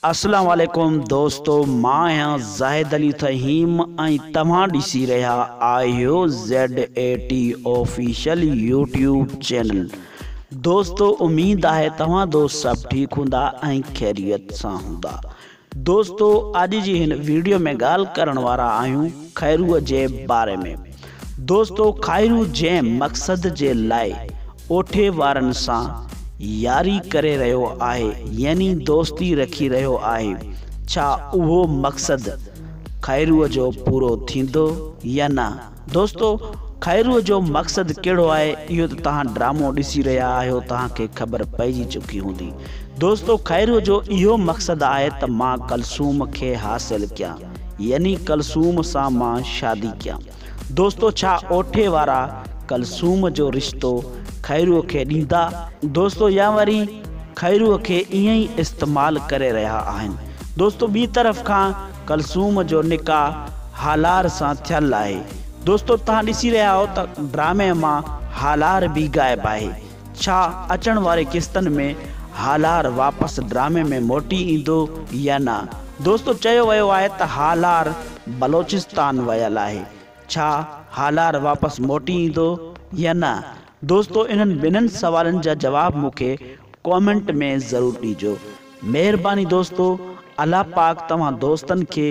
اسلام عليڪم دوستو مان آهيان زاهد علي فهيم ۽ توهان ڏسي رهيا آهيو Z A T official YouTube channel دوستو اميد آهي توهان دوست سڀ ٺيڪ هوندا ۽ خيريت سان هوندا دوستو اڄ جي هن ويڊيو ۾ ڳالهه ڪرڻ وارا آهيون خيرو جي باري ۾ دوستو خيرو جنهن مقصد جي لاء ڪوٺي وارن سان ياري ڪري رهيو آهي يعني دوستي رکي رهيو آهي ڇا اهو مقصد خيرو جو پورو ٿيندو يا نه دوستو خيرو جو مقصد ڪهڙو آهي اهو ته توهان ڊرامو ڏسي رهيا آهيو توهان کي خبر پئجي چڪي هوندي دوستو خيرو جو اهو مقصد آهي ته مان ڪلثوم کي حاصل ڪيان يعني ڪلثوم سان مان شادي ڪيان. دوستو ڇا اوٺي وارا ڪلثوم جو رشتو خيروء کي ڏيندا؟ دوستو يا وري خيروء کي ائين ئي استعمال ڪري رهيا آهن؟ دوستو ٻي طرف کان ڪلثوم جو نڪاح هالار سان ٿيل آهي. دوستو تهان ڏسي رهيا آهو ته ڊرامي مان هالار به غائب آهي. ڇا اچڻ واري قسطن ۾ هالار واپس ڊرامي ۾ موٽي ايندو يا نه؟ دوستو چيو ويو آهي ته هالار بلوچستان ويل آهي ڇا هالار واپس موٽي ايندو يا نه؟ دوستو انهن ٻنهن سوالن جا جواب مون کي ڪامينٽ ۾ ضرور ڏيجو. مهرباني دوستو الله پاڪ توهان دوستن کي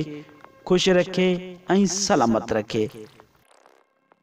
خوش رکي ۽ سلامت رکي.